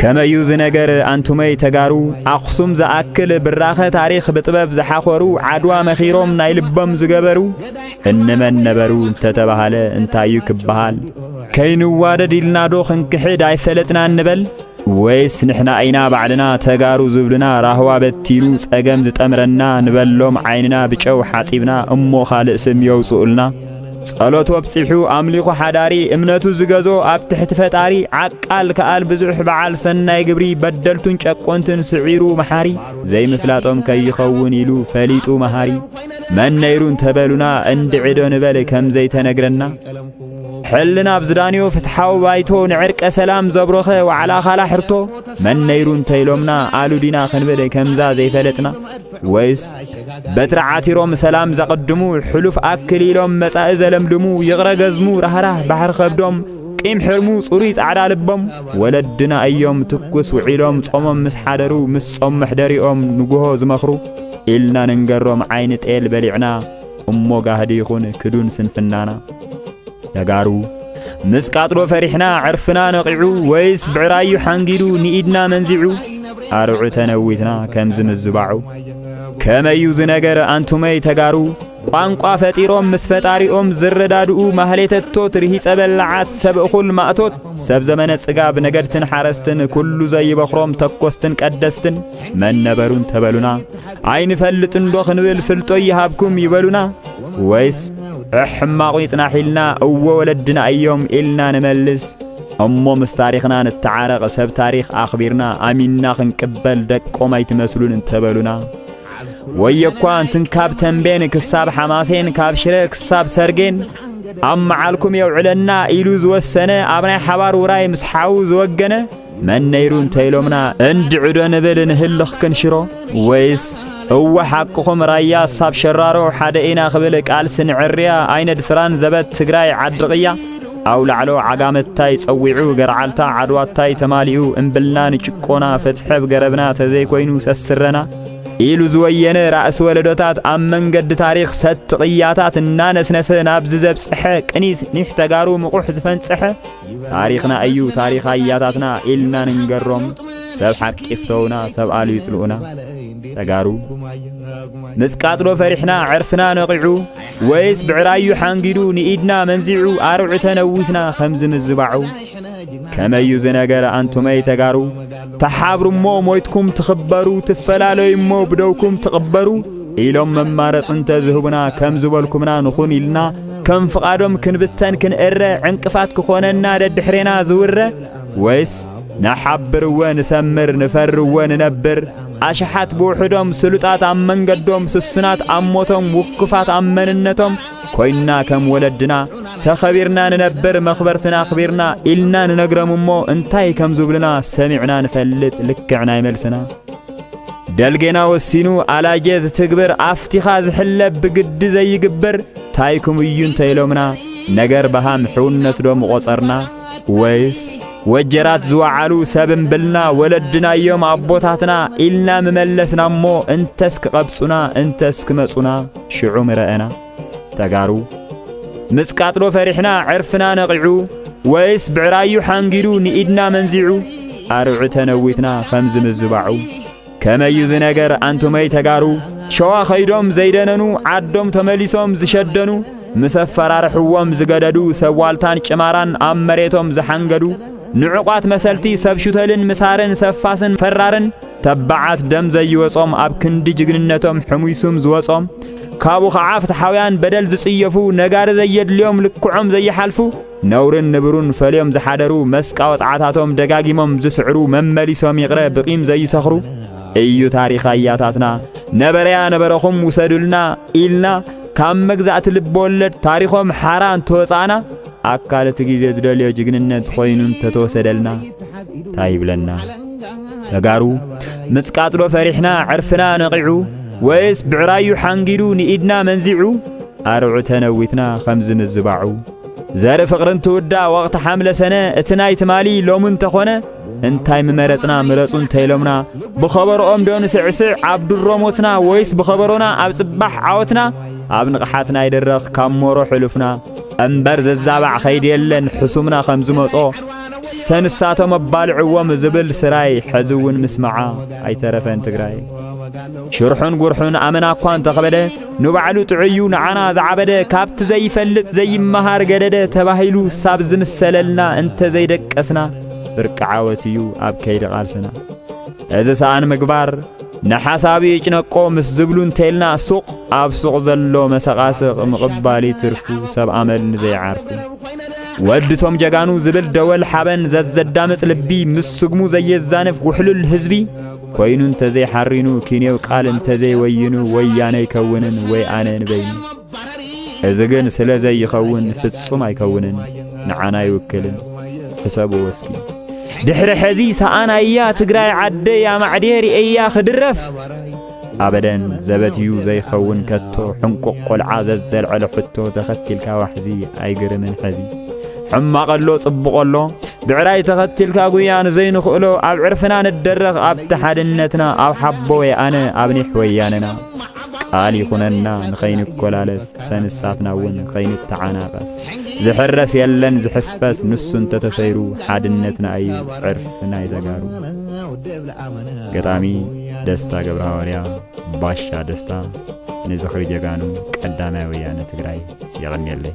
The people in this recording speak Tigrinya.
ከመዩ ዝነገር ኣንቱመይ ተጋሩ ኣኽሱም ዝኣክል ብራኸ ታሪኽ ብጥበብ ዝሓኾሩ ዓድዋ መኺሮም ናይ ልቦም ዝገበሩ እንመን ነበሩ እንተተባሃለ እንታዩ ክበሃል ከይንዋደድ ኢልናዶ ክንክሕድ ኣይፈለጥና እንበል ወይስ ንሕና ኢና ባዕልና ተጋሩ ዝብልና ራህዋ በቲኑ ጸገም ዝጠምረና ንበሎም ዓይንና ብጨው ሓጺብና እሞ ካልእ ስም የውጽኡልና ጸሎት ወብጺሑ ኣምሊኹ ሓዳሪ እምነቱ ዝገዞ ኣብ ትሕቲ ፈጣሪ ዓቃል ከኣል ብዙሕ በዓል ሰናይ ግብሪ በደልቱን ጨቆንትን ስዒሩ መሓሪ ዘይምፍላጦም ከይኸውን ኢሉ ፈሊጡ መሃሪ መን ነይሩ እንተበሉና እንድዕዶ ንበል ከም ዘይተነግረና ሕልና ኣብ ዝዳንዮ ፍትሓዊ ባይቶ ንዕርቀ ሰላም ዘብሮኸ ዋዕላ ካላ ሕርቶ መን ነይሩ እንተኢሎምና ኣሉዲና ክንብል ከምዛ ዘይፈለጥና ወይስ በትሪ ዓቲሮም ሰላም ዘቕድሙ ሕሉፍ ኣክል ኢሎም መጻኢ ዘለምልሙ ይቕረ ገዝሙ ራህራህ ባሕሪ ከብዶም ቂም ሕርሙ ጽሩይ ጻዕዳ ልቦም ወለድና እዮም ትኩስ ውዒሎም ጾሞም ምስ ሓደሩ ምስ ጾም መሕደሪኦም ንጉሆ ዝመኽሩ ኢልና ንንገሮም ዓይኒ ጤል በሊዕና እሞ ጋህዲ ይኹን ክዱን ስንፍናና ተጋሩ ምስ ቃጥሎ ፈሪሕና ዕርፍና ነቒዑ ወይስ ብዕራዩ ሓንጊዱ ንኢድና መንዚዑ ኣርዑ ተነዊትና ከም ዝምዝባዑ ከመዩ ዝነገር ኣንቱመይ ተጋሩ ቋንቋ ፈጢሮም ምስ ፈጣሪኦም ዝረዳድኡ ማህሌተቶት ርሂጸ በላዓት ሰብ እኹል ማእቶት ሰብ ዘመነ ጽጋብ ነገድትን ሓረስትን ኩሉ ዘይበኽሮም ተኮስትን ቀደስትን መን ነበሩን ተበሉና ኣይንፈልጥንዶ ክንብል ፍልጦ ይሃብኩም ይበሉና ወይስ ሕማቑ ይጽናሕ ኢልና እወ ወለድና እዮም ኢልና ንመልስ እሞ ምስ ታሪኽና ንተዓረቕ ሰብ ታሪኽ ኣኽቢርና ኣሚንና ክንቅበል ደቆም ኣይትመስሉን እንተበሉና ወየኳ እንትን ካብ ተንቤን ክሳብ ሓማሴን ካብ ሽረ ክሳብ ሰርጌን ኣብ መዓልኩም የውዕለና ኢሉ ዝወሰነ ኣብ ናይ ሓባር ውራይ ምስ ሓዉ ዝወገነ መን ነይሩ እንተ ኢሎምና እንድዕዶ ንብል ንህልኽ ክንሽሮ ወይስ እወ ሓቅኹም ራያ ሳብ ሸራሮ ሓደ ኢና ክብል ቃልሲ ንዕርያ ኣይነድፍራን ዘበት ትግራይ ዓዲ ቕያ ኣውላዕሎ ዓጋመታይ ጸዊዑ ገርዓልታ ዓድዋታይ ተማሊኡ እምብልና ንጭቆና ፍትሐብ ገረብና ተዘይኮይኑ ሰስረና ኢሉ ዝወየነ ራእሲ ወለዶታት ኣብ መንገዲ ታሪኽ ሰቲ ቅያታት እናነስነሰ ናብዚ ዘብጽሐ ቅኒት ኒሕ ተጋሩ ምቑሕ ዝፈንጽሐ ታሪኽና እዩ ታሪኽ ኣያታትና ኢልና ንንገሮም ሰብ ሓቂ ይፍተውና ሰብ ኣሉ ይጽልኡና ተጋሩ ምስ ቃጥሎ ፈሪሕና ዕርፍና ነቒዑ ወይስ ብዕራዩ ሓንጊዱ ንኢድና መንዚዑ ኣርዑተ ነዊትና ከምዚ ምዝባዑ ከመዩ ዝነገረ ኣንቱመይ ተጋሩ ተሓብሩ እሞ ሞይትኩም ትኽበሩ፣ ትፈላለዩ እሞ ብደውኩም ትቕበሩ ኢሎም መማረፅ እንተ ዝህቡና ከም ዝበልኩምና ንኹን ኢልና ከም ፍቓዶም ክንብተን ክንእረ ዕንቅፋት ክኾነና ደድሕሬና ዝውረ ወይስ ንሓብርወ ንሰምር ንፈርወ ንነብር ኣሽሓት ብውሕዶም ስሉጣት ኣብ መንገዶም ስሱናት ኣብ ሞቶም ውኩፋት ኣብ መንነቶም ኮይንና ከም ወለድና ተኸቢርና ንነብር መኽበርትና ኣኽቢርና ኢልና ንነግረም እሞ እንታይ ከም ዝብሉና ሰሚዕና ንፈልጥ ልክዕ ናይ መልስና ደልጌና ወሲኑ ኣላጌ ዝትግብር ኣፍቲኻ ዝሕለብ ብግዲ ዘይግበር ታይኩም እዩ እንተ ኢሎምና ነገር በሃም ሕውነት ዶ ምቖጸርና ወይስ ወጀራት ዝወዓሉ ሰብ እምብልና ወለድና እዮም ኣቦታትና ኢልና ምመለስና እሞ እንተስ ክቐብጹና እንተስ ክመጹና ሽዑ ምረኣና ተጋሩ ምስ ቃጥሎ ፈሪሕና ዕርፍና ነቒዑ ወይስ ብዕራዩ ሓንጊዱ ንኢድና መንዚዑ ኣርዑተ ነዊትና ከምዚ ምዝባዑ ከመዩ ዝነገር ኣንቱመይ ተጋሩ ሸዋ ኸይዶም ዘይደነኑ ዓዶም ተመሊሶም ዝሸደኑ ምስ ኣፈራርሕዎም ዝገደዱ ሰብ ዋልታን ጭማራን ኣብ መሬቶም ዝሓንገዱ ንዕቋት መሰልቲ ሰብ ሹተልን ምሳርን ሰፋስን ፈራርን ተባዓት ደም ዘይወጾም ኣብ ክንዲ ጅግንነቶም ሕሙይሱም ዝወጾም ካብኡ ኸዓ ፍትሓውያን በደል ዝጽየፉ ነጋሪ ዘየድልዮም ልክዖም ዘይሓልፉ ነውርን ንብሩን ፈልዮም ዝሓደሩ መስቃ ወጽዓታቶም ደጋጊሞም ዝስዕሩ መመሊሶም ይቕረ ብቂም ዘይሰኽሩ እዩ ታሪኽ ኣያታትና ነበረያ ነበረኹም ውሰዱልና ኢልና ካብ መግዛእቲ ልቢ ወለድ ታሪኾም ሓራ እንተወጻእና ኣካል እቲ ግዜ ዝደልዮ ጅግንነት ኮይኑ እንተተወሰደልና እንታይ ይብለና? ተጋሩ ምጽቃጥዶ ፈሪሕና ዕርፍና ነቒዑ ወይስ ብዕራዩ ሓንጊዱ ንኢድና መንዚዑ ኣርዑ ተነዊትና ከምዚ ምዝባዑ ዘርኢ ፍቕርን ትውዳ ወቕቲ ሓምለ ሰነ እቲ ናይ ትማሊ ሎሚ እንተኾነ እንታይ ምመረጽና ምረጹ እንተኢሎምና ብኸበሮኦም ዶ ንስዕስዕ ኣብ ድሮ ሞትና ወይስ ብኸበሮና ኣብ ጽባሕ ዓወትና ኣብ ንቕሓትና ይድረኽ ካብ ሞሮ ሕሉፍና እምበር ዘዛባዕ ኸይዲ የለን ሕሱምና ከም ዝመጾ ሰንሳቶም ኣባልዕዎም ዝብል ስራይ ሕዚ እውን ምስምዓ ኣይተረፈን ትግራይ ሽርሑን ጉርሑን ኣመና እኳ እንተኸበደ ንባዕሉ ጥዑዩ ንዓና ዝዓበደ ካብቲ ዘይፈልጥ ዘይመሃር ገደደ ተባሂሉ ሳብ ዝምሰለልና እንተዘይደቀስና ብርቂ ዓወት እዩ ኣብ ከይዲ ቓልስና እዚ ሰኣን ምግባር ንሓሳብ ይጭነቆ ምስ ዝብሉ እንተልና ሱቕ ኣብ ሱቕ ዘሎ መሰቓስቕ ምቕባል ይትርፉ ሰብ ኣመል ንዘይዓርፉ ወድቶም ጀጋኑ ዝብል ደወል ሓበን ዘዘዳምፅ ልቢ ምስ ስግሙ ዘየዛንፍ ውሕሉል ህዝቢ ኮይኑ እንተዘይሓሪኑ ኪንየው ቃል እንተዘይወይኑ ወያነ ይከውንን ወይ ኣነ ንበይኑ እዚ ግን ስለ ዘይኸውን ፍጹም ኣይከውንን፣ ንዓና ኣይውክልን። ሕሰብዎ እስኪ። ድሕሪ ሕዚ ሰኣናያ ትግራይ ዓደይ ኣማዕድየ ርእያ ክድረፍ ኣበደን ዘበትዩ ዘይኸውን ከቶ ሕንቁቕ ቆልዓ ዘዘልዐለ ሕቶ ተኸቲልካ ዋሕዚ ኣይግርምን ሕዚ ሕማቕ ኣሎ ጽቡቕ ኣሎ ብዕራይ ተኸቲልካ ጉያ ንዘይንኽእሎ ኣብ ዕርፍና ንደረኽ ኣብቲ ሓድነትና ኣብ ሓቦ ወይ ኣነ ኣብ ኒሕ ወያነና ቃል ይኹነና ንኸይንኮላለፍ ሰንሳትና እውን ኸይንተዓናቐፍ ዝሕረስ የለን ዝሕፈስ ንሱ እንተተሰይሩ ሓድነትና እዩ ዕርፊ ናይ ተጋሩ ገጣሚ ደስታ ገብረ ሃዋርያ ባሻ ደስታ ንዝኽሪ ጀጋኑ ቀዳማይ ወያነ ትግራይ የቐንየለይ